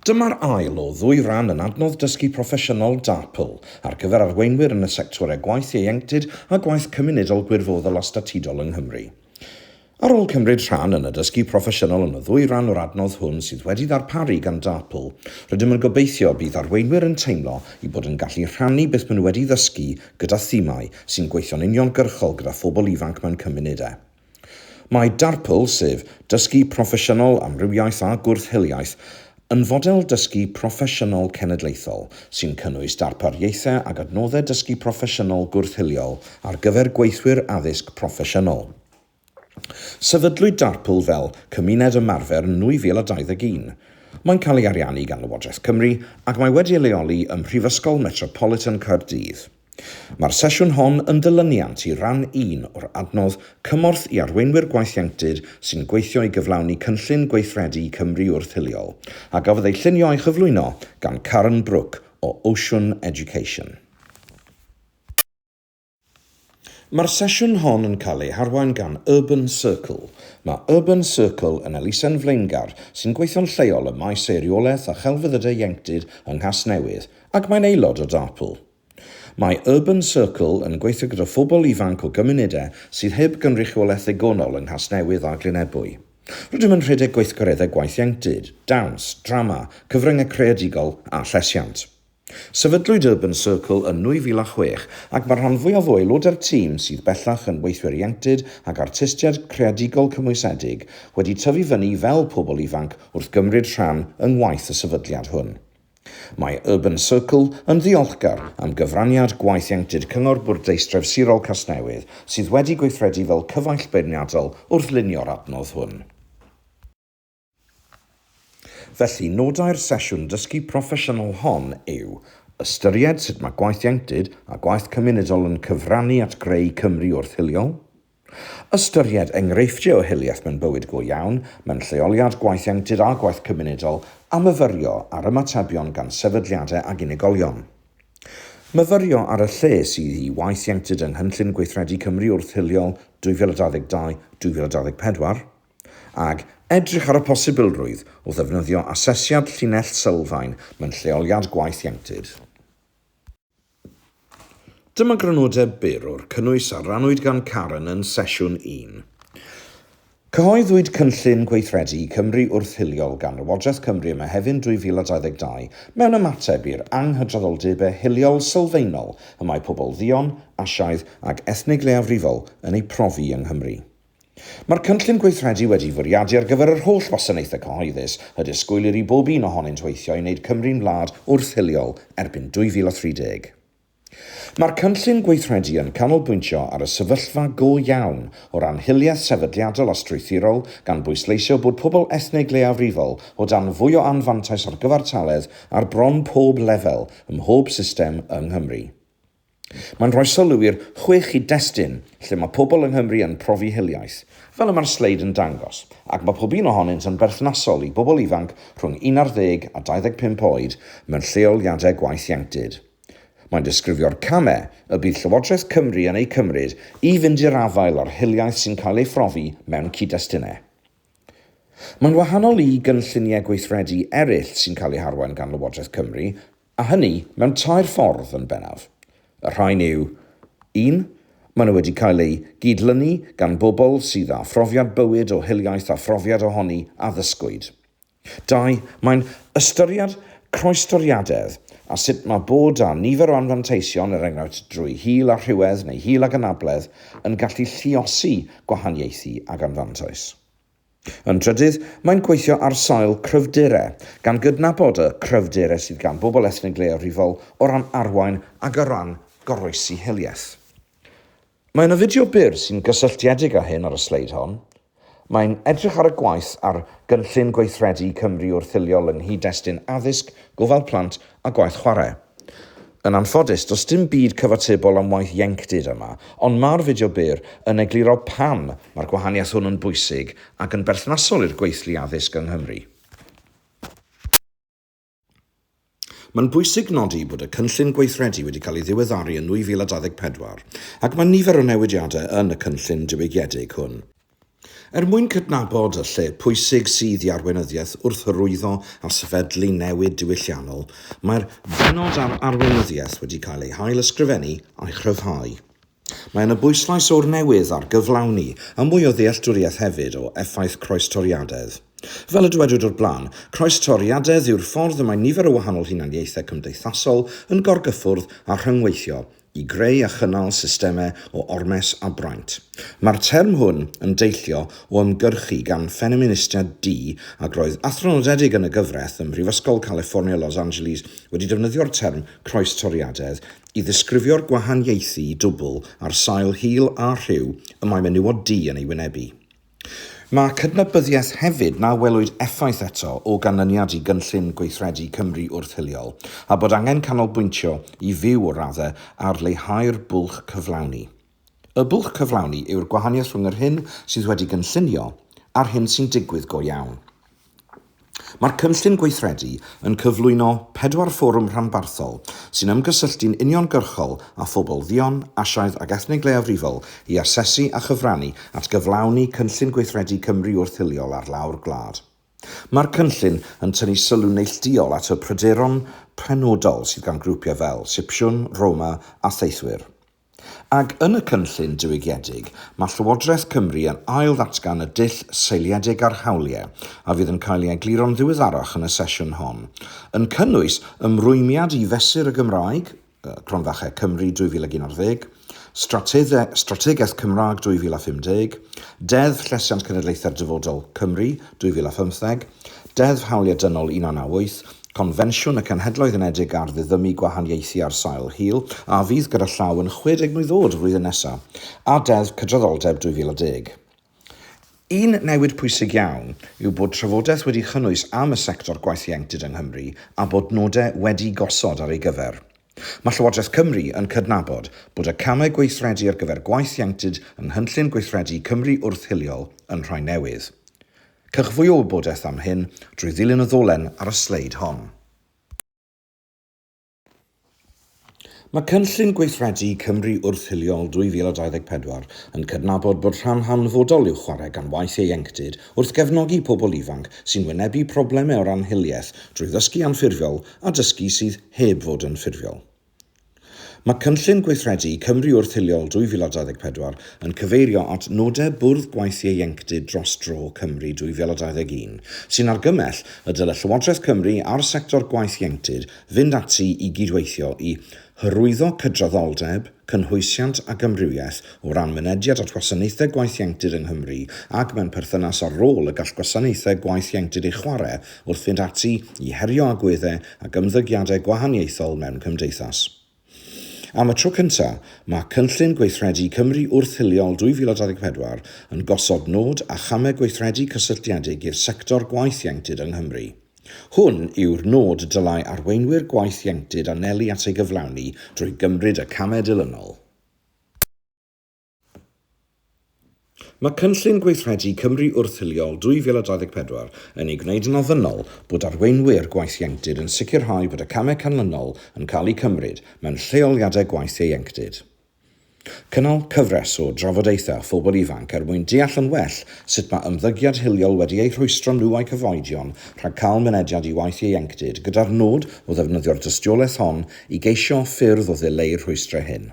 Dyma'r ail o ddwy ran yn adnodd dysgu proffesiynol DAPL ar gyfer arweinwyr yn y sectorau gwaith ieuenctid a gwaith cymunedol gwirfoddol a statudol yng Nghymru. Ar ôl cymryd rhan yn y dysgu proffesiynol yn y ddwy ran o'r adnodd hwn sydd wedi ddarparu gan DAPL, rydym yn gobeithio y bydd arweinwyr yn teimlo eu bod yn gallu rhannu beth maen nhw wedi ddysgu gyda thimau sy'n gweithio'n uniongyrchol gyda phobl ifanc mewn cymunedau. Mae DARPL, sef Dysgu Proffesiynol Amrywiaeth a Gwrth-hiliaeth, yn fodel dysgu proffesiynol cenedlaethol sy'n cynnwys darpariaethau ac adnoddau dysgu proffesiynol gwrth-hiliol ar gyfer gweithwyr addysg proffesiynol. Sefydlwyd DARPL fel cymuned ymarfer yn 2021. Mae'n cael ei ariannu gan Lywodraeth Cymru ac mae wedi ei leoli ym Mhrifysgol Metropolitan Caerdydd. Mae'r sesiwn hon yn ddilyniant i ran un o'r adnodd Cymorth i Arweinwyr Gwaith Ieuenctid sy'n gweithio i gyflawni Cynllun Gweithredu Cymru Wrth Hiliol, a gafodd ei llunio a'i chyflwyno gan Karen Brooke o Ocean Education. Mae'r sesiwn hon yn cael ei harwain gan Urban Circle. Mae Urban Circle yn elusen flaengar sy'n gweithio'n lleol ym maes Eiriolaeth a Chelfyddydau Ieuenctid yng Nghasnewydd, Ac mae'n aelod o DARPL. Mae Urban Circle yn gweithio gyda phobl ifanc o gymunedau sydd heb gynrychiolaeth ddigonol yng Nghasnewydd a Glyn Ebwy. Rydym yn rhedeg gweithgareddau gwaith ieuenctid, dawns, drama, cyfryngau creadigol a llesiant. Sefydlwyd Urban Circle yn 2006 ac mae'r rhan fwyaf o aelodau'r tîm, sydd bellach yn weithwyr ieuenctid ac artistiaid creadigol cymwysedig, wedi tyfu fyny fel pobl ifanc wrth gymryd rhan yng ngwaith y sefydliad hwn. Mae Urban Circle yn ddiolchgar am gyfraniad gwaith ieuenctid Cyngor Bwrdeistref Sirol Casnewydd sydd wedi gweithredu fel cyfaill beirniadol wrth lunio'r adnodd hwn. Felly, nodau'r sesiwn dysgu proffesiynol hon yw, Ystyried sut mae gwaith ieuenctid a gwaith cymunedol yn cyfrannu at greu Cymru wrth-hiliol, Ystyried enghreifftiau o hiliaeth mewn bywyd go iawn, mewn lleoliad, gwaith ieuenctid a gwaith cymunedol, a myfyrio ar ymatebion gan sefydliadau ac unigolion. Myfyrio ar y lle sydd i waith ieuenctid yng Nghynllun Gweithredu Cymru Wrth Hiliol 2022-2024, ag edrych ar y posibilrwydd o ddefnyddio asesiad llinell sylfaen mewn lleoliad gwaith ieuenctid. Dyma grynodeb byr o'r cynnwys a rannwyd gan Karen yn Sesiwn un. Cyhoeddwyd Cynllun Gweithredu Cymru Wrth-hiliol gan Lywodraeth Cymru ym Mehefin 2022 mewn ymateb i'r anghydraddoldebau hiliol sylfaenol y mae pobl dduon, Asiaidd ac ethnig leiafrifol yn eu profi yng Nghymru. Mae'r cynllun gweithredu wedi'i fwriadu ar gyfer yr holl wasanaethau cyhoeddus, y disgwylir i bob un ohonynt weithio i wneud Cymru'n wlad wrth-hiliol erbyn 2030. Mae'r cynllun gweithredu yn canolbwyntio ar y sefyllfa go iawn o ran hiliaeth sefydliadol a strwythurol, gan bwysleisio bod pobl ethnig leiafrifol o dan fwy o anfantais ar gyfartaledd ar bron pob lefel ym mhob system yng Nghymru. Mae'n rhoi sylw i'r chwe chyd-destun lle mae pobl yng Nghymru yn profi hiliaeth, fel y mae'r sleid yn dangos, ac mae pob un ohonynt yn berthnasol i bobl ifanc rhwng un ar ddeg a 25 oed mewn lleoliadau gwaith ieuenctid. Mae'n disgrifio'r camau y bydd Llywodraeth Cymru yn eu cymryd i fynd i'r afael â'r hiliaeth sy'n cael ei phrofi mewn cyd-destunau. Mae'n wahanol i gynlluniau gweithredu eraill sy'n cael eu harwain gan Lywodraeth Cymru, A hynny mewn tair ffordd yn bennaf. Y rhain yw, un, maen nhw wedi cael eu gyd-lynu gan bobl sydd â phrofiad bywyd o hiliaeth a phrofiad ohoni a ddysgwyd. Dau, mae'n ystyried croestoriadedd a sut mae bod â nifer o anfanteision, er enghraifft drwy hil a rhywedd neu hil ag anabledd, yn gallu lluosi gwahaniaethu ag anfantais. Yn drydydd, mae'n gweithio ar sail cryfderau, gan gydnabod y cryfderau sydd gan bobl ethnig leiafrifol o ran arwain ac o ran goroesi hiliaeth. Mae yna fideo byr sy'n gysylltiedig â hyn ar y sleid hon. Mae'n edrych ar y gwaith ar Gynllun Gweithredu Cymru Wrth Hiliol yng nghyd-destun addysg, gofal plant a gwaith chwarae. Yn anffodus, does dim byd cyfatebol am waith ieuenctid yma, ond mae'r fideo byr yn egluro pam mae'r gwahaniaeth hwn yn bwysig ac yn berthnasol i'r gweithlu addysg yng Nghymru. Mae'n bwysig nodi bod y cynllun gweithredu wedi cael ei ddiweddaru yn 2024, ac mae nifer o newidiadau yn y cynllun diwygiedig hwn. Er mwyn cydnabod y lle pwysig sydd i arweinyddiaeth wrth hyrwyddo a sefydlu newid diwylliannol, mae'r bennod ar arweinyddiaeth wedi cael ei hail-ysgrifennu a'i chryfhau. Mae yna bwyslais o'r newydd ar gyflawni a mwy o ddealltwriaeth hefyd o effaith croestoriadedd. Fel y dywedwyd o'r blaen, croestoriadedd yw'r ffordd y mae nifer o wahanol hunaniaethau cymdeithasol yn gorgyffwrdd a rhyngweithio, i greu a chynnal systemau o ormes a braint. Mae'r term hwn yn deillio o ymgyrchu gan ffeministiaid du ac roedd athro nodedig yn y gyfraith ym Mhrifysgol Califfornia Los Angeles wedi defnyddio'r term croestoriadedd i ddisgrifio'r gwahaniaethu dwbl ar sail hil a rhyw y mae menywod du yn ei wynebu. Mae cydnabyddiaeth hefyd na welwyd effaith eto o ganlyniad i Gynllun Gweithredu Cymru Wrth Hiliol, a bod angen canolbwyntio i fyw o raddau ar leihau'r bwlch cyflawni. Y bwlch cyflawni yw'r gwahaniaeth rhwng yr hyn sydd wedi gynllunio a'r hyn sy'n digwydd go iawn. Mae'r Cynllun Gweithredu yn cyflwyno pedwar fforwm rhanbarthol sy'n ymgysylltu'n uniongyrchol â phobl dduon, Asiaidd ac ethnig leiafrifol i asesu a chyfrannu at gyflawni Cynllun Gweithredu Cymru Wrth-hiliol ar lawr gwlad. Mae'r cynllun yn tynnu sylw neillduol at y pryderon penodol sydd gan grwpiau fel Sipsiwn, Roma a Theithwyr. Ac yn y cynllun diwygiedig, mae Llywodraeth Cymru yn ail-ddatgan y dull seiliedig ar hawliau, a fydd yn cael ei egluro'n ddiweddarach yn y sesiwn hon, yn cynnwys ymrwymiad i Fesur y Gymraeg, Cronfachau Cymru 2011, Strate-dde Strategaeth Cymraeg 2050, Deddf Llesiant Cenedlaethau'r Dyfodol, Cymru, 2015, Deddf Hawliau Dynol 1998, Confensiwn y Cenhedloedd Unedig ar Ddiddymu Gwahaniaethu ar Sail Hil, a fydd gyda llaw yn 60 mlwydd oed flwyddyn nesa, a Deddf Cydraddoldeb 2010. Un newid pwysig iawn yw bod trafodaeth wedi chynnwys am y sector gwaith ieuenctid yng Nghymru a bod nodau wedi gosod ar ei gyfer. Mae Llywodraeth Cymru yn cydnabod bod y camau gweithredu ar gyfer gwaith ieuenctid yng Nghynllun Gweithredu Cymru Wrth-hiliol yn rhai newydd. Cewch fwy o wybodaeth am hyn drwy ddilyn y ddolen ar y sleid hon. Mae Cynllun Gweithredu Cymru Wrth-hiliol 2024 yn cydnabod bod rhan hanfodol i'w chwarae gan waith ieuenctid wrth gefnogi pobl ifanc sy'n wynebu problemau o ran hiliaeth drwy ddysgu anffurfiol a dysgu sydd heb fod yn ffurfiol. Mae Cynllun Gweithredu Cymru Wrth-hiliol 2024 yn cyfeirio at nodau Bwrdd Gwaith Ieuenctid Dros Dro Cymru 2021, sy'n argymell y dylai Llywodraeth Cymru a'r sector gwaith ieuenctid fynd ati i gydweithio i hyrwyddo cydraddoldeb, cynhwysiant ac amrywiaeth o ran mynediad at wasanaethau gwaith ieuenctid yng Nghymru ac mewn perthynas â'r rôl y gall gwasanaethau gwaith ieuenctid ei chwarae wrth fynd ati i herio agweddau ac ymddygiadau gwahaniaethol mewn cymdeithas. Am y tro cyntaf, mae Cynllun Gweithredu Cymru Wrth-hiliol 2024 yn gosod nod a chamau gweithredu cysylltiedig i'r sector gwaith ieuenctid yng Nghymru. Hwn yw'r nod y dylai arweinwyr gwaith ieuenctid anelu at ei gyflawni drwy gymryd y camau dilynol. Mae Cynllun Gweithredu Cymru Wrth-hiliol 2024 yn ei gwneud yn ofynnol bod arweinwyr gwaith ieuenctid yn sicrhau bod y camau canlynol yn cael eu cymryd mewn lleoliadau gwaith ieuenctid. Cynnal cyfres o drafodaethau â phobl ifanc er mwyn deall yn well sut mae ymddygiad hiliol wedi eu rhwystro nhw a'u cyfoedion rhag cael mynediad i waith ieuenctid gyda'r nod o ddefnyddio'r dystiolaeth hon i geisio ffyrdd o ddileu'r rhwystrau hyn.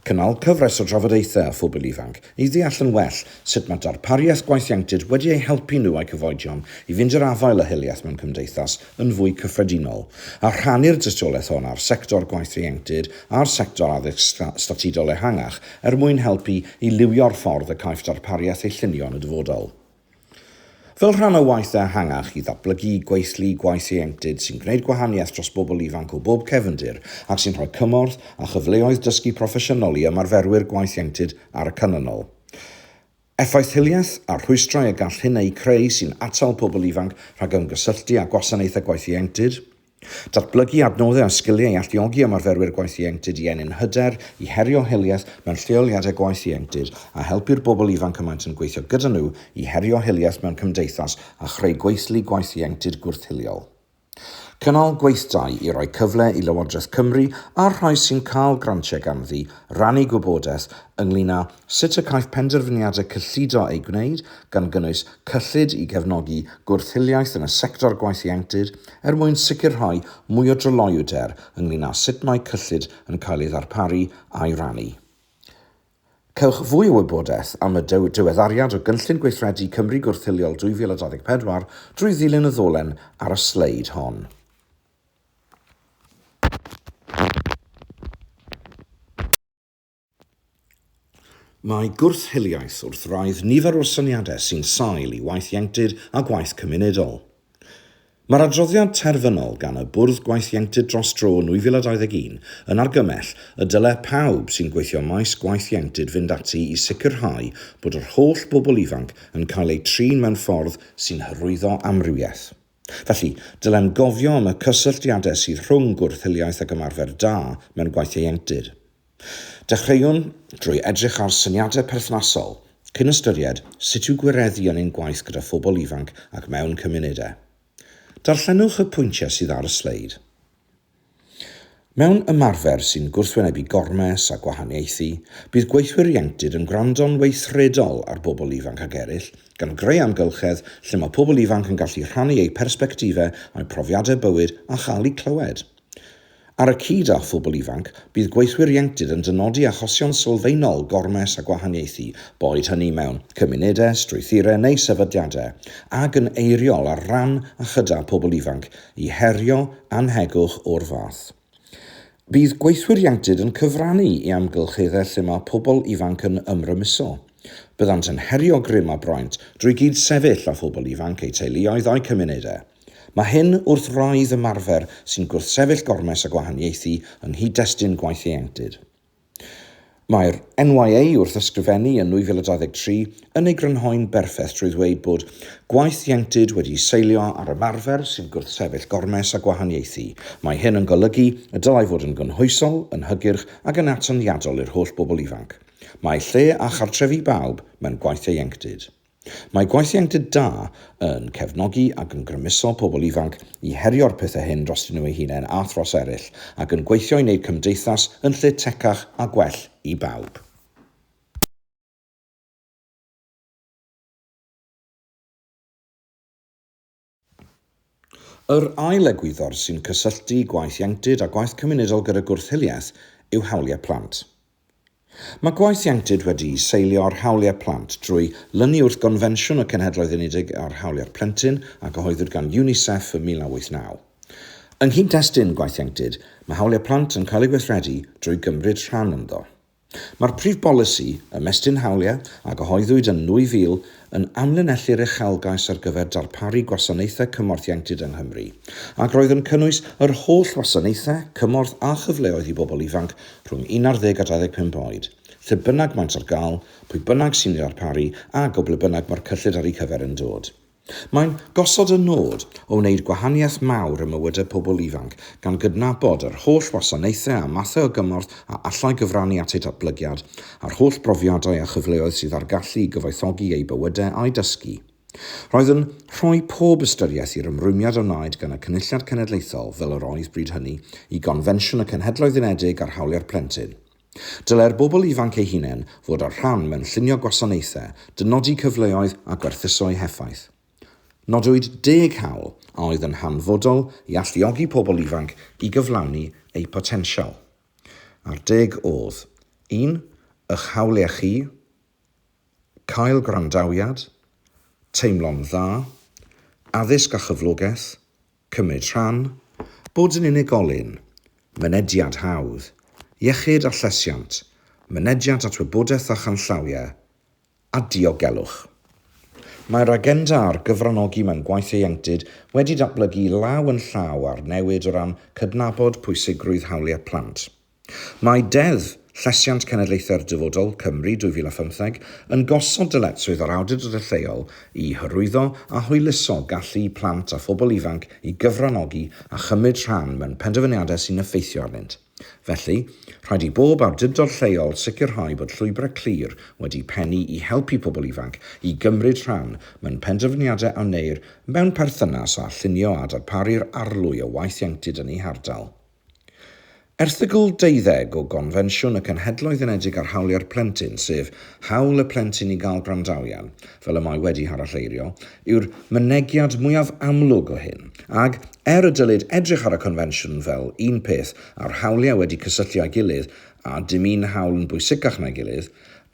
Cynnal cyfres o drafodaethau â phobl ifanc i ddeall yn well sut mae darpariaeth gwaith ieuenctid wedi eu helpu nhw a'u cyfoedion i fynd i'r afael â hiliaeth mewn cymdeithas yn fwy cyffredinol, a rhannu'r dystiolaeth hon â'r sector gwaith ieuenctid a'r sector addysg statudol ehangach er mwyn helpu i liwio'r ffordd y caiff darpariaeth ei llunio yn y dyfodol. Fel rhan o waith ehangach i ddatblygu gweithlu gwaith ieuenctid sy'n gwneud gwahaniaeth dros bobl ifanc o bob cefndir ac sy'n rhoi cymorth a chyfleoedd dysgu proffesiynol i ymarferwyr gwaith ieuenctid ar y canlynol, effaith hiliaeth a'r rhwystrau y gall hyn eu creu sy'n atal pobl ifanc rhag ymgysylltu â gwasanaethau gwaith ieuenctid, Datblygu adnoddau a sgiliau i alluogi ymarferwyr gwaith ieuenctid i ennyn hyder, i herio hiliaeth mewn lleoliadau gwaith ieuenctid, a helpu'r bobl ifanc y maent yn gweithio gyda nhw i herio hiliaeth mewn cymdeithas a chreu gweithlu gwaith ieuenctid gwrth-hiliol. Cynnal gweithdai i roi cyfle i Lywodraeth Cymru a'r rhai sy'n cael grantiau ganddi rannu gwybodaeth ynglŷn â Sut y caiff penderfyniadau cyllido eu gwneud, gan gynnwys cyllid i gefnogi gwrth-hiliaeth yn y sector gwaith ieuenctid, er mwyn sicrhau mwy o dryloywder ynglŷn â sut mae cyllid yn cael ei ddarparu a'i rannu. Cewch fwy o wybodaeth am y diweddariad o Gynllun Gweithredu Cymru Gwrth-hiliol 2024 drwy ddilyn y ddolen ar y sleid hon. Mae gwrth-hiliaeth wrth wraidd nifer o'r syniadau sy'n sail i waith ieuenctid a gwaith cymunedol. Mae'r adroddiad terfynol gan y Bwrdd Gwaith Ieuenctid Dros Dro 2021 yn argymell y dylai pawb sy'n gweithio ym maes gwaith ieuenctid fynd ati i sicrhau bod yr holl bobl ifanc yn cael eu trin mewn ffordd sy'n hyrwyddo amrywiaeth. Felly, dylem gofio am y cysylltiadau sydd rhwng gwrth-hiliaeth ac ymarfer da mewn gwaith ieuenctid. Dechreuwn drwy edrych ar syniadau perthnasol, cyn ystyried sut i'w gwireddu yn ein gwaith gyda phobl ifanc ac mewn cymunedau. Darllenwch y pwyntiau sydd ar y sleid. Mewn ymarfer sy'n gwrthwynebu gormes a gwahaniaethu, bydd gweithwyr ieuenctid yn gwrando'n weithredol ar bobl ifanc ac eraill, gan greu amgylchedd lle mae pobl ifanc yn gallu rhannu eu persbectifau a'u profiadau bywyd a chael eu clywed. Ar y cyd â phobl ifanc, bydd gweithwyr ieuenctid yn dynodi achosion sylfaenol gormes a gwahaniaethu, boed hynny mewn cymunedau, strwythurau neu sefydliadau, ac yn eiriol ar ran a chyda phobl ifanc, i herio annhegwch o'r fath. Bydd gweithwyr ieuenctid yn cyfrannu i amgylcheddau lle mae pobl ifanc yn ymrymuso. Byddant yn herio grym a braint drwy gyd-sefyll â phobl ifanc, eu teuluoedd a'u cymunedau. Mae hyn wrth wraidd ymarfer sy'n gwrthsefyll gormes a gwahaniaethu yng nghyd-destun gwaith ieuenctid. Mae'r NYA wrth ysgrifennu yn 2023 yn ei grynhoi'n berffaith trwy ddweud bod gwaith ieuenctid wedi seilio ar ymarfer sy'n gwrthsefyll gormes a gwahaniaethu. Mae hyn yn golygu y dylai fod yn gynhwysol, yn hygyrch ac yn atyniadol i'r holl bobl ifanc. Mae lle a chartrefi bawb mewn gwaith ieuenctid. Mae gwelliant da yn cefnogi ac yn grymuso pobl ifanc i herio'r pethau hyn drostyn nhw eu hunain a thros eraill, ac yn gweithio i wneud cymdeithas yn lle tecach a gwell i bawb. Yr ail egwyddor sy'n cysylltu gwaith ieuenctid a gwaith cymunedol gyda gwrth-hiliaeth yw hawliau plant. Mae gwaith ieuenctid wedi'i seilio ar hawliau plant drwy lynu wrth Gonfensiwn y Cenhedloedd Unedig ar Hawliau'r Plentyn a gyhoeddwyd gan UNICEF ym 1989. Yng nghyd-destun gwaith ieuenctid, mae hawliau plant yn cael eu gweithredu drwy gymryd rhan ynddo. Mae'r prif bolisi, Ymestyn Hawliau, a gyhoeddwyd yn 2000, yn amlinellu'r uchelgais ar gyfer darparu gwasanaethau cymorth ieuenctid yng Nghymru, ac roedd yn cynnwys yr holl wasanaethau cymorth a chyfleoedd i bobl ifanc rhwng 11 a 25 oed, lle bynnag maent ar gael, pwy bynnag sy'n ei ddarparu, a o ble bynnag mae'r cyllid ar eu cyfer yn dod. Mae'n gosod y nod o wneud gwahaniaeth mawr ym mywydau pobl ifanc, gan gydnabod yr holl wasanaethau a mathau o gymorth a allai gyfrannu at eu datblygiad, a'r holl brofiadau a chyfleoedd sydd â'r gallu i gyfoethogi eu bywydau a'u dysgu. Roedd yn rhoi pob ystyriaeth i'r ymrwymiad a wnaed gan y Cynulliad Cenedlaethol, fel yr oedd bryd hynny, i Gonfensiwn y Cenhedloedd Unedig ar Hawliau'r Plentyn, Dylai'r bobl ifanc eu hunain fod â'r rhan mewn llunio gwasanaethau, dynodi cyfleoedd a gwerthuso'u heffaith. Nodwyd deg hawl a oedd yn hanfodol i alluogi pobl ifanc i gyflawni eu potensial. A'r deg oedd, un, eich hawliau chi, cael gwrandawiad, teimlo'n dda, addysg a chyflogaeth, Cymryd rhan, bod yn unigolyn, mynediad hawdd, iechyd a llesiant, mynediad at wybodaeth a chanllawiau, a diogelwch. Mae'r agenda ar gyfranogi mewn gwaith ieuenctid wedi datblygu law yn llaw â'r newid o ran cydnabod pwysigrwydd hawliau plant. Mae Deddf Llesiant Cenedlaethau'r Dyfodol, Cymru, 2015 yn gosod dyletswydd ar awdurdodau lleol i hyrwyddo a hwyluso gallu plant a phobl ifanc i gyfranogi a chymryd rhan mewn penderfyniadau sy'n effeithio arnynt. Felly, rhaid i bob awdurdod lleol sicrhau bod llwybrau clir wedi pennu i helpu pobl ifanc i gymryd rhan mewn penderfyniadau a wneir mewn perthynas â llunio a darparu'r arlwy o waith ieuenctid yn eu hardal. Erthygl 20 o Gonfensiwn y Cenhedloedd Unedig ar Hawliau'r Plentyn, sef hawl y plentyn i gael gwrandawiad, fel y mae wedi haralleirio, yw'r mynegiad mwyaf amlwg o hyn, ac, er y dylid edrych ar y Confensiwn fel un peth a'r hawliau wedi cysylltu â'i gilydd a dim un hawl yn bwysicach na'i gilydd,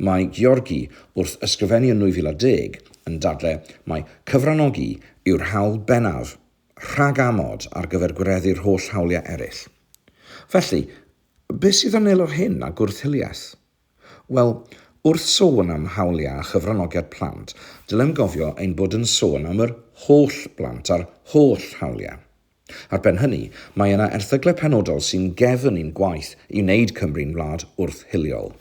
mae Georgi, wrth ysgrifennu yn 2010, yn dadle mai cyfranogi yw'r hawl bennaf. rhag amod ar gyfer gwireddu'r holl hawliau eraill. Felly, beth sydd yn neilo'r hyn a gwrth-hiliaeth? Wel, wrth sôn am hawliau a chyfranogiad plant, dylem gofio ein bod yn sôn am yr holl blant a'r holl hawliau. Ar ben hynny, mae yna erthyglau penodol sy'n gefn i'n gwaith i wneud Cymru'n wlad wrth-hiliol.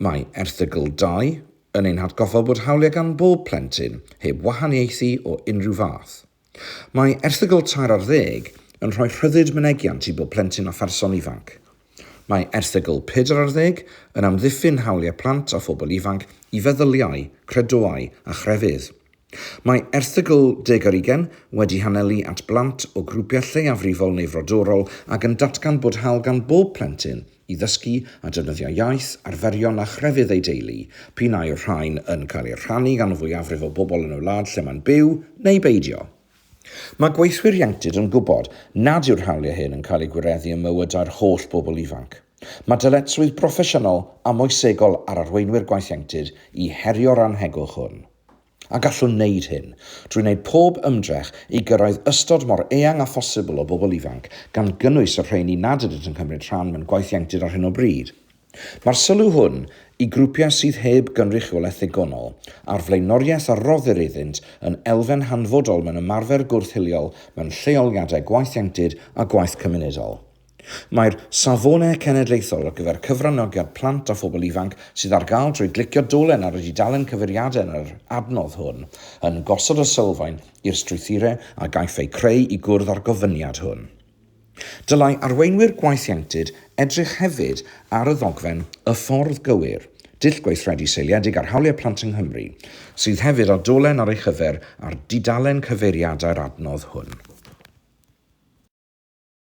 Mae Erthygl 2 yn ein hatgoffa bod hawliau gan bob plentyn, heb wahaniaethu o unrhyw fath. Mae erthygl tair ar ddeg yn rhoi rhyddid mynegiant i bob plentyn a pherson ifanc. Mae erthygl pedwar ar ddeg yn amddiffyn hawliau plant a phobl ifanc i feddyliau, credoau a chrefydd. Mae erthygl deg ar ugain wedi hanelu at blant o grwpiau lleiafrifol neu frodorol ac yn datgan bod hawl gan bob plentyn i ddysgu a defnyddio iaith, arferion a chrefydd ei deulu, p'un ai'r rhain yn cael eu rhannu gan y fwyafrif o bobl yn y wlad lle mae'n byw, neu beidio. Mae gweithwyr ieuenctid yn gwybod nad yw'r hawliau hyn yn cael eu gwireddu ym mywydau'r holl bobl ifanc. Mae dyletswydd broffesiynol a moesegol ar arweinwyr gwaith ieuenctid i herio'r annhegwch hwn. A gallwn wneud hyn drwy wneud pob ymdrech i gyrraedd ystod mor eang â phosibl o bobl ifanc, gan gynnwys y rheini nad ydynt yn cymryd rhan mewn gwaith ieuenctid ar hyn o bryd. Mae'r sylw hwn i grwpiau sydd heb gynrychiolaeth ddigonol, a'r flaenoriaeth a roddir iddynt, yn elfen hanfodol mewn ymarfer gwrth-hiliol mewn lleoliadau gwaith ieuenctid a gwaith cymunedol. Mae'r Safonau Cenedlaethol ar gyfer Cyfranogiad Plant a Phobl Ifanc, sydd ar gael drwy glicio dolen ar y dudalen cyfeiriadau yn yr adnodd hwn, yn gosod y sylfaen i'r strwythurau a gaiff eu creu i gwrdd â'r gofyniad hwn. Dylai arweinwyr gwaith ieuenctid edrych hefyd ar y ddogfen Y Ffordd Gywir, Dull Gweithredu Seiliedig ar Hawliau Plant yng Nghymru, sydd hefyd â dolen ar ei chyfer ar dudalen cyfeiriadau'r adnodd hwn.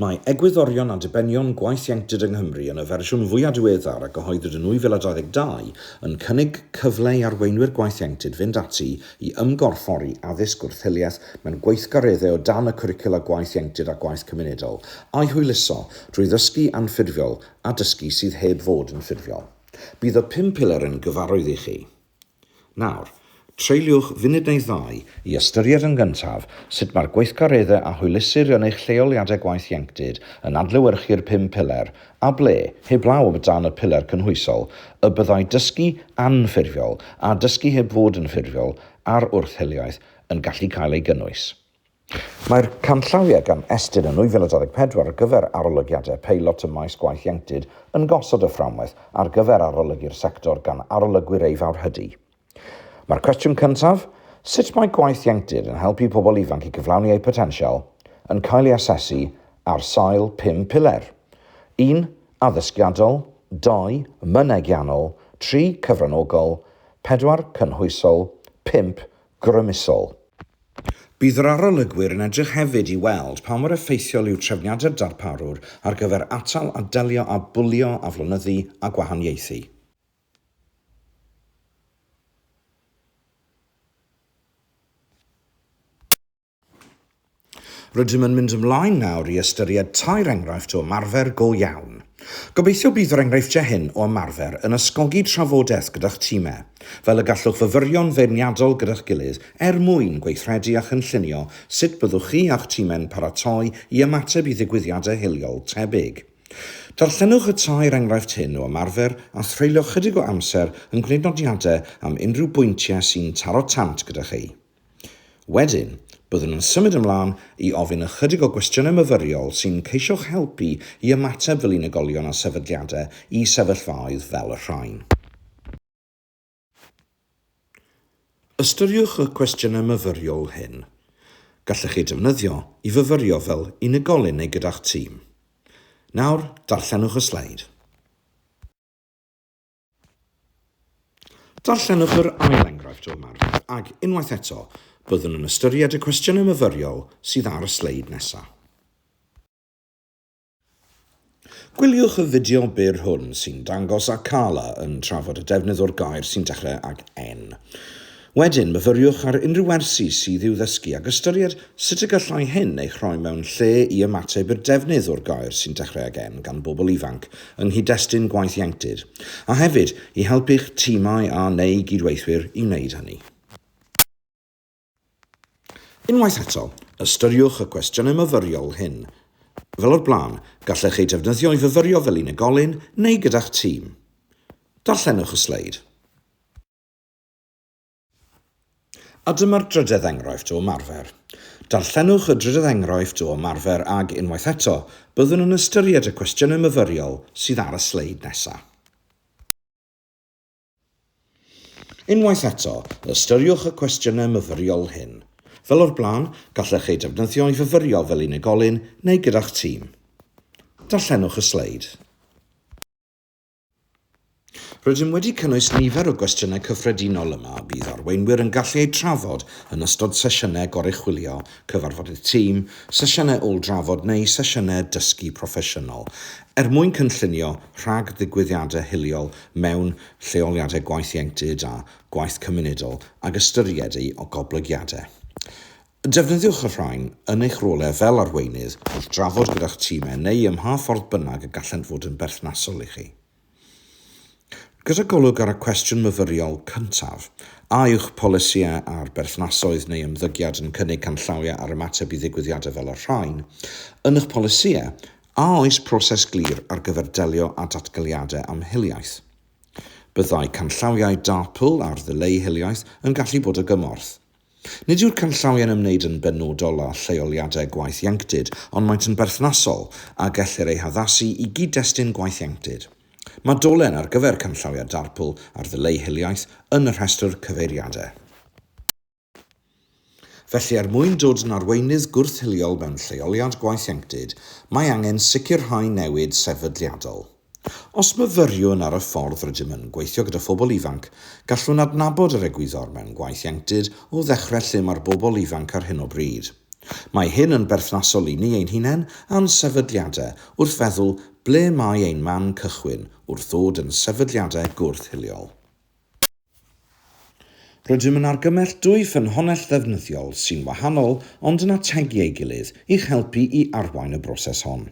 Mae egwyddorion a dibenion gwaith ieuenctid yng Nghymru yn y fersiwn fwyaf diweddar a gyhoeddwyd yn 2022 yn cynnig cyfle i arweinwyr gwaith ieuenctid fynd ati I ymgorffori addysg wrth-hiliaeth mewn gweithgareddau o dan y Cwricwla Gwaith Ieuenctid a Gwaith Cymunedol, a'i hwyluso drwy ddysgu anffurfiol a dysgu sydd heb fod yn ffurfiol. Bydd y pum pilar yn gyfarwydd i chi. Nawr, treuliwch funud neu ddau i ystyried yn gyntaf sut mae'r gweithgareddau a hwylusir yn eich lleoliadau gwaith ieuenctid yn adlewyrchu'r pum pilar a ble, heblaw o dan y piler cynhwysol, y byddai dysgu anffurfiol a dysgu heb fod yn ffurfiol ar wrth hiliaeth yn gallu cael ei gynnwys. Mae'r canllawiau gan Estyn yn 2024 ar gyfer arolygiadau peilot ym maes gwaith ieuenctid yn gosod y fframwaith ar gyfer arolygu'r sector gan arolygwyr ei fawrhydi. Mae'r cwestiwn cyntaf, sut mae gwaith ieuenctid yn helpu pobl ifanc i gyflawni eu potensial, yn cael ei asesu ar sail pum piler, un, addysgiadol, dau, mynegiannol, tri, cyfranogol, pedwar, cynhwysol, pump, grymusol. Bydd yr arolygwyr yn edrych hefyd i weld pa mor effeithiol yw trefniadau'r darparwr ar gyfer atal a delio â bwlio, aflonyddu a gwahaniaethu. Rydym yn mynd ymlaen nawr i ystyried tair enghraifft o ymarfer go iawn. Gobeithio bydd yr enghreifftiau hyn o ymarfer yn ysgogi trafodaeth gyda'ch timau, fel y gallwch fyfyrio'n feirniadol gyda'ch gilydd er mwyn gweithredu a chynllunio sut byddwch chi a'ch timau'n paratoi i ymateb i ddigwyddiadau hiliol tebyg. Darllenwch y tair enghraifft hyn o ymarfer a threulio chydig o amser yn gwneud nodiadau am unrhyw bwyntiau sy'n taro tant gyda chi. Wedyn, byddwn yn symud ymlaen i ofyn ychydig o gwestiynau myfyriol sy'n ceisio'ch helpu i ymateb fel unigolion a sefydliadau i sefyllfaoedd fel y rhain. Ystyriwch y cwestiynau myfyriol hyn. Gallech eu defnyddio i fyfyrio fel unigolyn neu gyda'ch tîm. Nawr, darllenwch y sleid. Darllenwch yr ail enghraifft o ymarfer ac, unwaith eto, byddwn yn ystyried y cwestiynau myfyriol sydd ar y sleid nesaf. Gwyliwch y fideo byr hwn sy'n dangos Akala yn trafod y defnydd o'r gair sy'n dechrau ag en. Wedyn, myfyriwch ar unrhyw wersi sydd i'w ddysgu ac ystyried sut y gallai hyn eich rhoi mewn lle i ymateb i'r defnydd o'r gair sy'n dechrau ag en gan bobl ifanc yng nghyd-destun gwaith ieuenctid, a hefyd i helpu'ch timau a neu gydweithwyr i wneud hynny. Unwaith eto, ystyriwch y cwestiynau myfyriol hyn. Fel o'r blaen, gallech eu defnyddio i fyfyrio fel unigolyn neu gyda'ch tîm. Darllenwch y sleid. A dyma'r drydedd enghraifft o ymarfer. Darllenwch y drydedd enghraifft o ymarfer ac, unwaith eto, byddwn yn ystyried y cwestiynau myfyriol sydd ar y sleid nesaf. Unwaith eto, ystyriwch y cwestiynau myfyriol hyn. Fel o'r blaen, gallech eu defnyddio i fyfyrio fel unigolyn neu gyda'ch tîm. Darllenwch y sleid. Rydym wedi cynnwys nifer o gwestiynau cyffredinol yma y bydd arweinwyr yn gallu eu trafod yn ystod sesiynau goruchwylio, cyfarfodydd tîm, sesiynau ôl-drafod neu sesiynau dysgu proffesiynol, er mwyn cynllunio rhag-ddigwyddiadau hiliol mewn lleoliadau gwaith ieuenctid a gwaith cymunedol ag ystyried eu goblygiadau. Defnyddiwch y rhain yn eich rolau fel arweinydd wrth drafod gyda'ch timau neu ym mha ffordd bynnag y gallent fod yn berthnasol i chi. Gyda golwg ar y cwestiwn myfyriol cyntaf, a yw'ch polisïau ar berthnasoedd neu ymddygiad yn cynnig canllawiau ar ymateb i ddigwyddiadau fel y rhain yn eich polisïau A oes proses glir ar gyfer delio â datgeliadau am hiliaeth? Byddai canllawiau DARPL ar ddileu hiliaeth yn gallu bod o gymorth. Nid yw'r canllawiau'n ymwneud yn benodol â lleoliadau gwaith ieuenctid, ond maent yn berthnasol a gellir eu haddasu i gyd-destun gwaith ieuenctid. Mae dolen ar gyfer canllawiau DARPL ar ddileu hiliaeth yn y rhestr cyfeiriadau. Felly, er mwyn dod yn arweinydd gwrth-hiliol mewn lleoliad gwaith ieuenctid, mae angen sicrhau newid sefydliadol. Os myfyriwn ar y ffordd rydym yn gweithio gyda phobl ifanc, gallwn adnabod yr egwyddor mewn gwaith ieuenctid o ddechrau lle mae'r bobl ifanc ar hyn o bryd. Mae hyn yn berthnasol i ni ein hunain a'n sefydliadau wrth feddwl ble mae ein man cychwyn wrth ddod yn sefydliadau gwrth-hiliol. Rydym yn argymell dwy ffynhonnell ddefnyddiol sy'n wahanol ond yn ategu ei gilydd i'ch helpu i arwain y broses hon.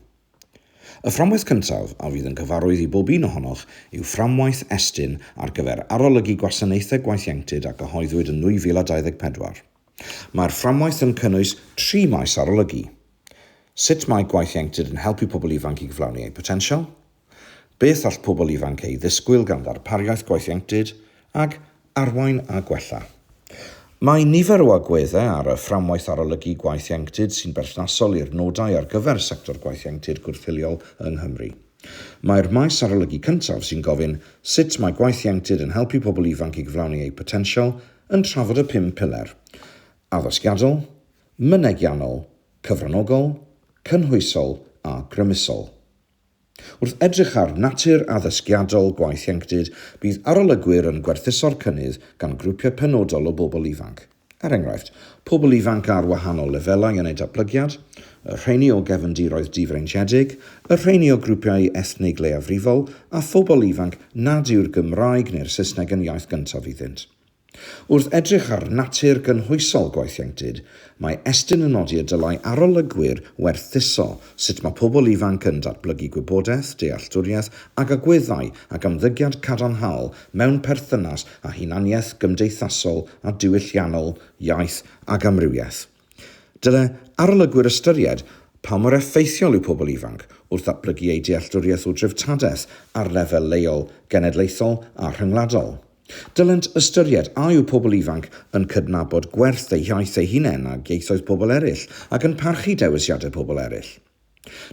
Y fframwaith cyntaf, a fydd yn gyfarwydd i bob un ohonoch, yw Fframwaith Estyn ar gyfer Arolygu Gwasanaethau Gwaith Ieuenctid a gyhoeddwyd yn 2024. Mae'r fframwaith yn cynnwys tri maes arolygu, Sut mae gwaith ieuenctid yn helpu pobl ifanc i gyflawni eu potensial? Beth all pobl ifanc ei ddisgwyl gan ddarpariaeth gwaethieunctid ag arwain a gwella? Mae nifer o agweddau ar y Fframwaith Arolygu Gwaethieunctid sy'n berthnasol i'r nodau ar gyfer sector gwaethieunctid gwrthfiliol yng Nghymru. Mae'r maes arolygu cyntaf sy'n gofyn sut mae gwaethieunctid yn helpu pobl ifanc i gyflawni eu potensial yn trafod y pum piler, addysgiadol, mynegiannol, cyfranogol, cynhwysol a grymusol. Wrth edrych ar natur addysgiadol gwaith ieuenctid, bydd arolygwyr yn gwerthuso'r cynnydd gan grwpiau penodol o bobl ifanc, er enghraifft, pobl ifanc ar wahanol lefelau yn eu datblygiad, y rheiny o gefndiroedd difreintiedig, y rheiny o grwpiau ethnig leiafrifol, a phobl ifanc nad yw'r Gymraeg neu'r Saesneg yn iaith gyntaf iddynt. Wrth edrych ar natur gynhwysol gwaith ieuenctid, mae Estyn yn nodi y dylai arolygwyr werthuso sut mae pobl ifanc yn datblygu gwybodaeth, dealltwriaeth ac agweddau ac ymddygiad cadarnhaol mewn perthynas â hunaniaeth gymdeithasol a diwylliannol, iaith ac amrywiaeth. Dylai arolygwyr ystyried pa mor effeithiol yw pobl ifanc wrth ddatblygu eu dealltwriaeth o dreftadaeth ar lefel leol, genedlaethol a rhyngwladol. Dylent ystyried a yw pobl ifanc yn cydnabod gwerth eu hiaith eu hunain ac ieithoedd pobl eraill ac yn parchu dewisiadau pobl eraill.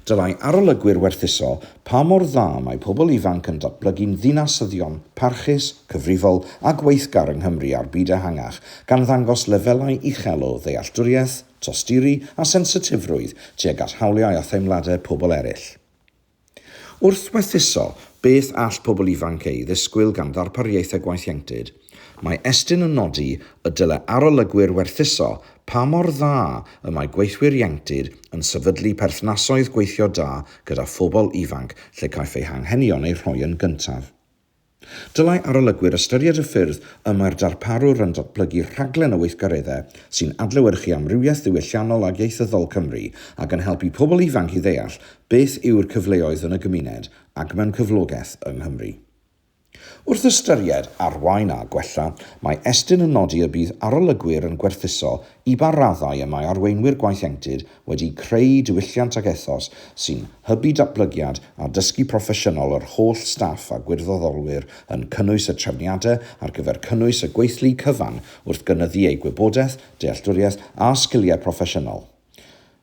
Dylai arolygwyr werthuso pa mor dda mae pobl ifanc yn datblygu'n ddinasyddion parchus, cyfrifol a gweithgar yng Nghymru a'r byd ehangach, gan ddangos lefelau uchel o ddealltwriaeth, tosturi a sensitifrwydd tuag at hawliau a theimladau pobl eraill. Wrth werthuso beth all pobl ifanc ei ddisgwyl gan ddarpariaethau gwaith ieuenctid, Mae Estyn yn nodi y dylai arolygwyr werthuso pa mor dda y mae gweithwyr ieuenctid yn sefydlu perthnasoedd gweithio da gyda phobl ifanc lle caiff eu hanghenion eu rhoi yn gyntaf. Dylai arolygwyr ystyried y ffyrdd y mae'r darparwr yn datblygu rhaglen o weithgareddau sy'n adlewyrchu amrywiaeth ddiwylliannol ac ieithyddol Cymru ac yn helpu pobl ifanc i ddeall beth yw'r cyfleoedd yn y gymuned ac mewn cyflogaeth yng Nghymru. Wrth ystyried arwain a gwella, mae Estyn yn nodi y bydd arolygwyr yn gwerthuso i ba raddau y mae arweinwyr gwaethienctid wedi creu diwylliant ac ethos sy'n hybu datblygiad a dysgu proffesiynol yr holl staff a gwirfoddolwyr yn cynnwys y trefniadau ar gyfer cynnwys y gweithlu cyfan wrth gynyddu eu gwybodaeth, dealltwriaeth a sgiliau proffesiynol.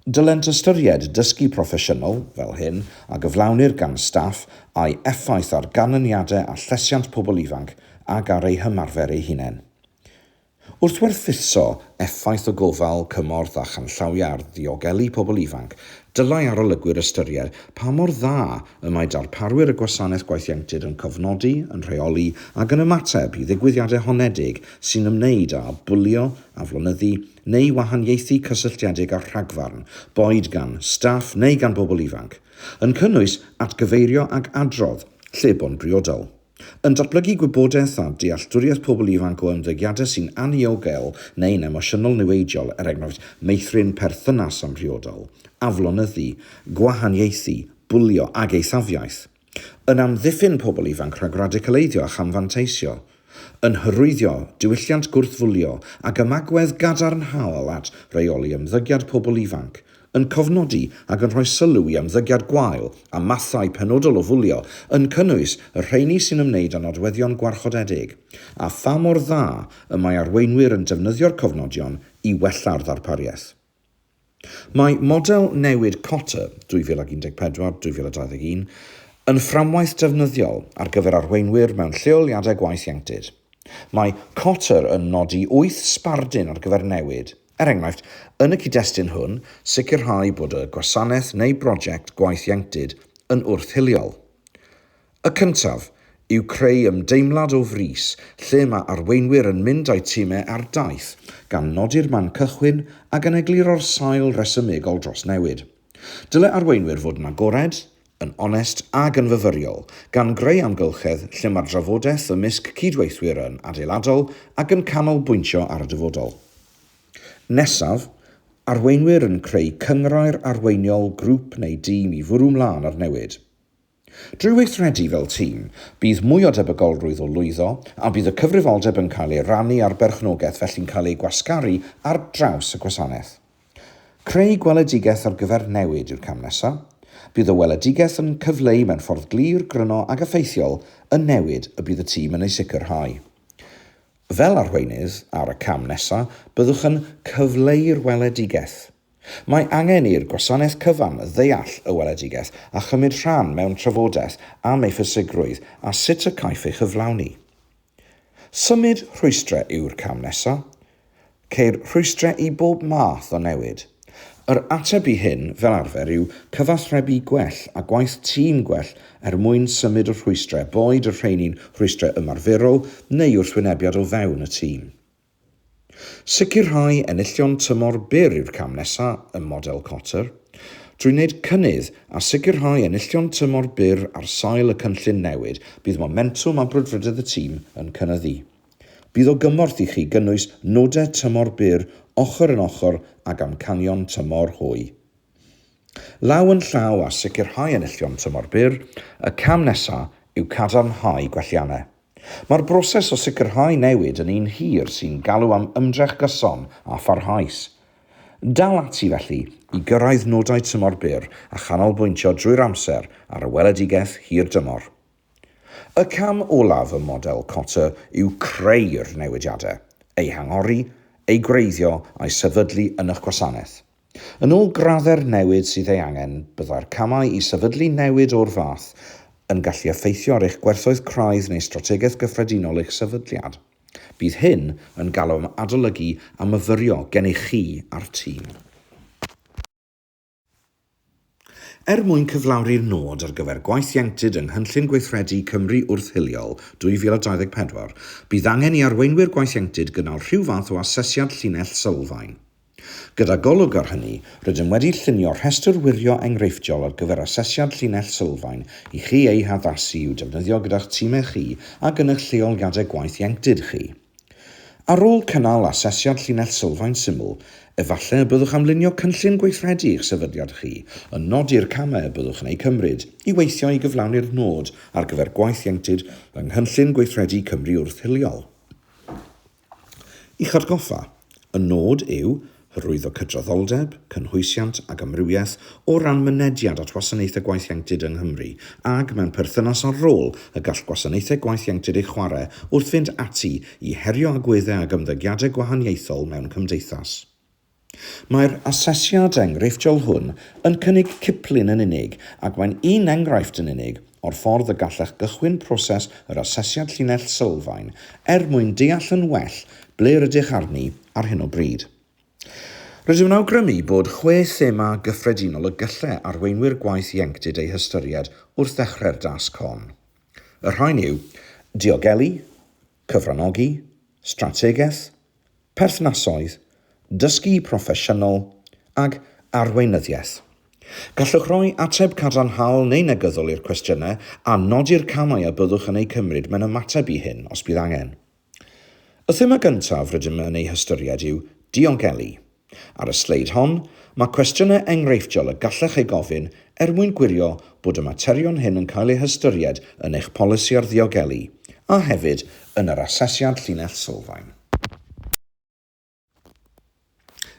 Dylent ystyried dysgu proffesiynol fel hyn a gyflawnir gan staff a'i effaith ar ganlyniadau a llesiant pobl ifanc ac ar eu hymarfer eu hunain. Wrth werthuso effaith o gofal, cymorth a chanllawiau ar ddiogelu pobl ifanc, dylai arolygwyr ystyried pa mor dda y mae darparwyr y Gwasanaeth Gwaith Ieuenctid yn cofnodi, yn rheoli ac yn ymateb i ddigwyddiadau honedig sy'n ymwneud â bwlio, aflonyddu, neu wahaniaethu cysylltiedig â'r rhagfarn, boed gan staff neu gan bobl ifanc, yn cynnwys atgyfeirio ac adrodd, lle bo'n briodol. Yn datblygu gwybodaeth a dealltwriaeth pobl ifanc o ymddygiadau sy'n anniogel neu'n emosiynol niweidiol, er enghraifft, meithrin perthynas amhriodol, aflonyddu, gwahaniaethu, bwlio ac eithafiaeth. Yn amddiffyn pobl ifanc rhag radicaleiddio a chamfanteisio. Yn hyrwyddio diwylliant gwrthfwlio ag ymagwedd gadarnhaol at reoli ymddygiad pobl ifanc. Yn cofnodi ac yn rhoi sylw i ymddygiad gwael a mathau penodol o fwlio, yn cynnwys y rheini sy'n ymwneud â nodweddion gwarchodedig, a pha mor dda y mae arweinwyr yn defnyddio'r cofnodion i wella'r ddarpariaeth. Mae model newid Cotter 2014-2021 yn fframwaith defnyddiol ar gyfer arweinwyr mewn lleoliadau gwaith ieuenctid. Mae Cotter yn nodi wyth sbardun ar gyfer newid, er enghraifft, yn y cyd-destun hwn, sicrhau bod y gwasanaeth neu broject gwaith ieuenctid yn wrth-hiliol, Y cyntaf, yw creu ymdeimlad o frys lle mae arweinwyr yn mynd â'u timau ar daith, gan nodi'r man cychwyn ac yn egluro'r sail resymegol dros newid. Dyle arweinwyr fod yn agored, yn onest ac yn fyfyriol, gan greu amgylchedd lle mae'r drafodaeth ymysg cydweithwyr yn adeiladol ac yn canolbwyntio ar y dyfodol. Nesaf, arweinwyr yn creu cynghrair arweiniol grŵp neu dîm i fwrw 'mlaen ar newid. Drwy weithredu fel tîm, bydd mwy o debygolrwydd o lwyddo, a bydd y cyfrifoldeb yn cael ei rannu a'r berchnogaeth felly'n cael ei gwasgaru ar draws y gwasanaeth. Creu gweledigaeth ar gyfer newid yw'r cam nesaf. Bydd y weledigaeth yn cyfleu mewn ffordd glir, gryno ac effeithiol y newid y bydd y tîm yn ei sicrhau. Fel arweinydd ar y cam nesaf, byddwch yn cyfleu'r weledigaeth. Mae angen i'r gwasanaeth cyfan ddeall y weledigaeth a chymryd rhan mewn trafodaeth am ei phwysigrwydd a sut y caiff ei chyflawni. Symud rhwystrau yw'r cam nesaf. Ceir rhwystrau i bob math o newid. Yr ateb i hyn, fel arfer, yw cyfathrebu gwell a gwaith tîm gwell er mwyn symud y rhwystrau, boed y rheini'n rhwystrau ymarferol neu wrthwynebiad o fewn y tîm. Sicrhau enillion tymor byr yw'r cam nesaf ym model Kotter. Drwy wneud cynnydd a sicrhau enillion tymor byr ar sail y cynllun newid, bydd momentwm a brwdfrydedd y tîm yn cynyddu. Bydd o gymorth i chi gynnwys nodau tymor byr ochr yn ochr ag amcanion tymor hwy. Law yn llaw â sicrhau enillion tymor byr, y cam nesaf yw cadarnhau gwelliannau. Mae'r broses o sicrhau newid yn un hir sy'n galw am ymdrech gyson a pharhaus. Dal ati, felly, i gyrraedd nodau tymor byr a chanolbwyntio drwy'r amser ar y weledigaeth hir dymor. Y cam olaf ym model Kotter yw creu'r newidiadau, eu hangori, eu gwreiddio a'u sefydlu yn eich gwasanaeth. Yn ôl graddau'r newid sydd ei angen, byddai'r camau i sefydlu newid o'r fath yn gallu effeithio ar eich gwerthoedd craidd neu strategaeth gyffredinol eich sefydliad. Bydd hyn yn galw am adolygu a myfyrio gennych chi a'r tîm. Er mwyn cyflawni'r nod ar gyfer gwaith ieuenctid yng Nghynllun Gweithredu Cymru Wrth-hiliol 2024, bydd angen i arweinwyr gwaith ieuenctid gynnal rhyw fath o asesiad llinell sylfaen. Gyda golwg ar hynny, rydym wedi llunio rhestr wirio enghreifftiol ar gyfer asesiad llinell sylfaen i chi eu haddasu i'w defnyddio gyda'ch timau chi a gynulleoliadau gwaith ieuenctid chi. Ar ôl cynnal asesiad llinell sylfaen syml, efallai y byddwch am lunio cynllun gweithredu i'ch sefydliad chi, yn nodi'r camau y byddwch yn eu cymryd i weithio i gyflawni'r nod ar gyfer gwaith ieuenctid yng Nghynllun Gweithredu Cymru Wrth-hiliol. I'ch atgoffa, y nod yw Hyrwyddo cydraddoldeb, cynhwysiant ac amrywiaeth o ran mynediad at wasanaethau gwaith ieuenctid yng Nghymru ag mewn perthynas â'r rôl y gall gwasanaethau gwaith ieuenctid ei chwarae wrth fynd ati i herio agweddau ac ymddygiadau gwahaniaethol mewn cymdeithas. Mae'r asesiad enghreifftiol hwn yn cynnig ciplun yn unig ac mae'n un enghraifft yn unig o'r ffordd y gallech gychwyn proses yr asesiad llinell sylfaen er mwyn deall yn well ble rydych arni ar hyn o bryd. Rydym yn awgrymu bod chwe thema gyffredinol y gallai arweinwyr gwaith ieuenctid eu hystyried wrth ddechrau'r dasg hon. Y rhain yw, diogelu, cyfranogi, strategaeth, perthnasoedd, dysgu proffesiynol ac arweinyddiaeth. Gallwch roi ateb cadarnhaol neu negyddol i'r cwestiynau a nodi'r camau a byddwch yn eu cymryd mewn ymateb i hyn os bydd angen. Y thema gyntaf rydym yn ei hystyried yw diogelu. Ar y sleid hon, mae cwestiynau enghreifftiol y gallech eu gofyn er mwyn gwirio bod y materion hyn yn cael eu hystyried yn eich polisi ar ddiogelu a hefyd yn yr Asesiad Llinell Sylfaen.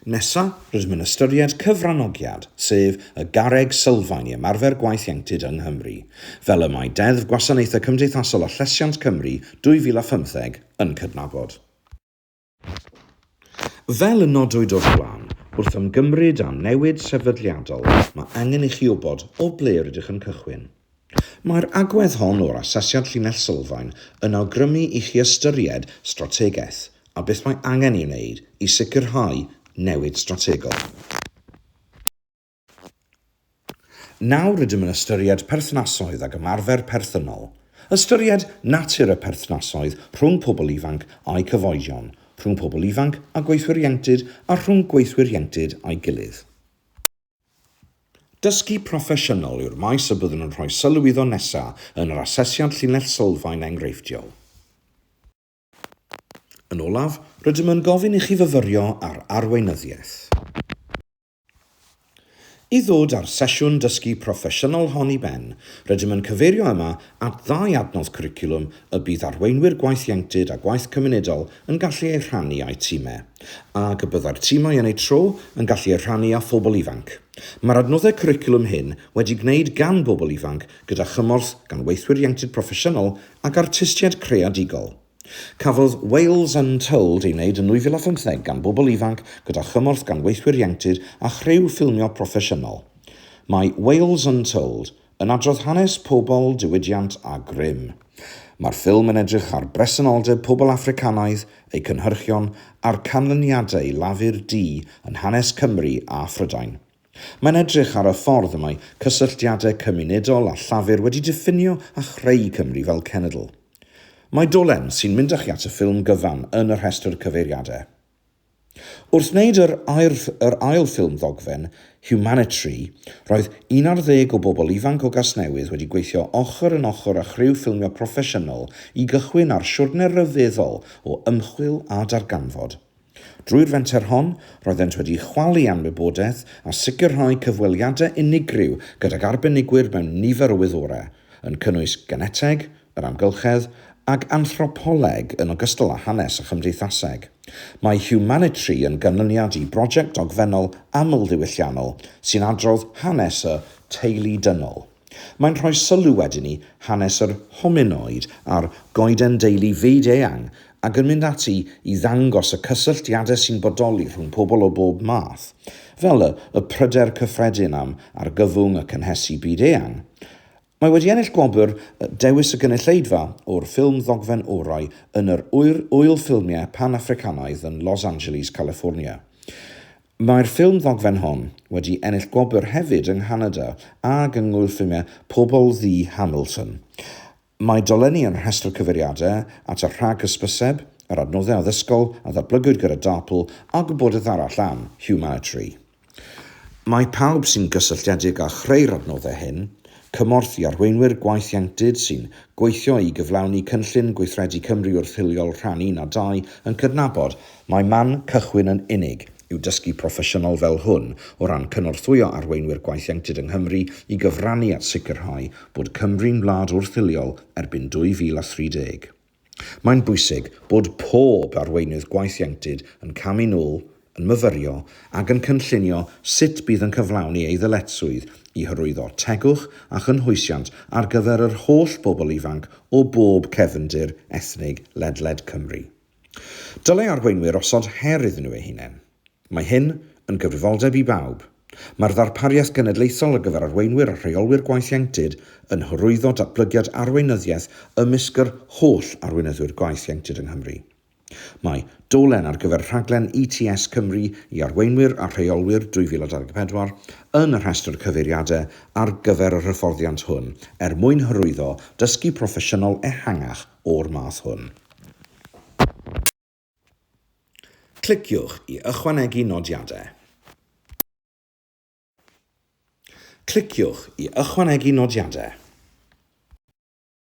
Nesa, rydym yn ystyried cyfranogiad, sef y garreg sylfaen i ymarfer gwaith ieuenctid yng Nghymru, fel y mae Deddf Gwasanaethau Cymdeithasol a Llesiant Cymru 2015 yn cydnabod. Fel y nodwyd o'r blaen, wrth ymgymryd â newid sefydliadol, mae angen i chi wybod o ble rydych yn cychwyn. Mae'r agwedd hon o'r Asesiad Llinell Sylfaen yn awgrymu i chi ystyried strategaeth a beth mae angen ei wneud i sicrhau newid strategol. Nawr rydym yn ystyried perthnasoedd ac ymarfer perthynol. Ystyried natur y perthnasoedd rhwng pobl ifanc a'u cyfoedion, rhwng pobl ifanc a gweithwyr ieuenctid a rhwng gweithwyr ieuenctid â'i gilydd. Dysgu proffesiynol yw'r maes y byddwn yn rhoi sylw iddo nesaf yn yr asesiad llinell sylfaen enghreifftiol. Yn olaf, rydym yn gofyn i chi fyfyrio ar arweinyddiaeth. I ddod â'r sesiwn dysgu proffesiynol hon i ben, rydym yn cyfeirio yma at ddau adnodd cwricwlwm y bydd arweinwyr gwaith ieuenctid a gwaith cymunedol yn gallu eu rhannu â'u timau, ac y byddai'r timau yn eu tro yn gallu eu rhannu â phobl ifanc. Mae'r adnoddau cwricwlwm hyn wedi gwneud gan bobl ifanc gyda chymorth gan weithwyr ieuenctid proffesiynol ac artistiaid creadigol. Cafodd Wales Untold ei wneud yn 2015 gan bobl ifanc gyda chymorth gan weithwyr ieuenctid a chriw ffilmio proffesiynol. Mae Wales Untold Yn adrodd hanes pobl, diwydiant a grym. Mae'r ffilm yn edrych ar bresenoldeb pobl Affricanaidd, eu cynhyrchion a'r canlyniadau Lafur Du yn hanes Cymru a Phrydain. Mae'n edrych ar y ffordd y mae cysylltiadau cymunedol a Llafur wedi diffinio a chreu Cymru fel cenedl. Mae dolen sy'n mynd â chi at y ffilm gyfan yn y rhestr cyfeiriadau. Wrth wneud yr yr ail ffilm ddogfen, Humanitary, roedd un ar ddeg o bobl ifanc o Gasnewydd wedi gweithio ochr yn ochr â chriw ffilmio proffesiynol i gychwyn ar siwrne ryfeddol o ymchwil a darganfod. Drwy'r fenter hon, roeddent wedi chwalu anwybodaeth a sicrhau cyfweliadau unigryw gydag arbenigwyr mewn nifer o wyddorau, yn cynnwys geneteg, yr amgylchedd ag anthropoleg yn ogystal â hanes a chymdeithaseg. Mae Humanitry yn ganlyniad i brosiect dogfennol amlddiwylliannol sy'n adrodd hanes y teulu dynol. Mae'n rhoi sylw wedyn i hanes yr hominoid a'r goeden deulu fyd-eang ac yn mynd ati i ddangos y cysylltiadau sy'n bodoli rhwng pobl o bob math, fel y y pryder cyffredin am argyfwng y cynhesu byd-eang, Mae wedi ennill gwobr Dewis y Gynulleidfa o'r ffilm ddogfen orau yn yr Ŵyl Ŵyl Ffilmiau Pan-Affricanaidd yn Los Angeles, California. Mae'r ffilm ddogfen hon wedi ennill gwobr hefyd yng Nghanada ag yng Ngŵyl Ffilmiau Pobl Ddu Hamilton. Mae dolenni yn rhestr cyfeiriadau at y rhag hysbyseb, yr adnoddau addysgol a ddatblygwyd gyda DARPL a gwybodaeth arall am Humanitary. Mae pawb sy'n gysylltiedig â chreu'r adnoddau hyn, cymorth i arweinwyr gwaith ieuenctid sy'n gweithio i gyflawni Cynllun Gweithredu Cymru Wrth Hiliol Rhan Un a Dau, yn cydnabod mai man cychwyn yn unig yw dysgu proffesiynol fel hwn o ran cynorthwyo arweinwyr gwaith ieuenctid yng Nghymru i gyfrannu at sicrhau bod Cymru'n wlad wrth-hiliol erbyn 2030. Mae'n bwysig bod pob arweinydd gwaith ieuenctid yn camu'n ôl, yn myfyrio ac yn cynllunio sut bydd yn cyflawni ei ddyletswydd i hyrwyddo tegwch a chynhwysiant ar gyfer yr holl bobl ifanc o bob cefndir ethnig ledled Cymru. Dylai arweinwyr osod her iddyn nhw eu hunain. Mae hyn yn gyfrifoldeb i bawb. Mae'r ddarpariaeth genedlaethol ar gyfer arweinwyr a rheolwyr gwaith ieuenctid yn hyrwyddo datblygiad arweinyddiaeth ymysg yr holl arweinyddwyr gwaith ieuenctid yng Nghymru. Mae dolen ar gyfer rhaglen ETS Cymru i arweinwyr a rheolwyr 2024 yn y rhestr cyfeiriadau ar gyfer yr hyfforddiant hwn er mwyn hyrwyddo dysgu proffesiynol ehangach o'r math hwn. Cliciwch i ychwanegu nodiadau. Cliciwch i ychwanegu nodiadau.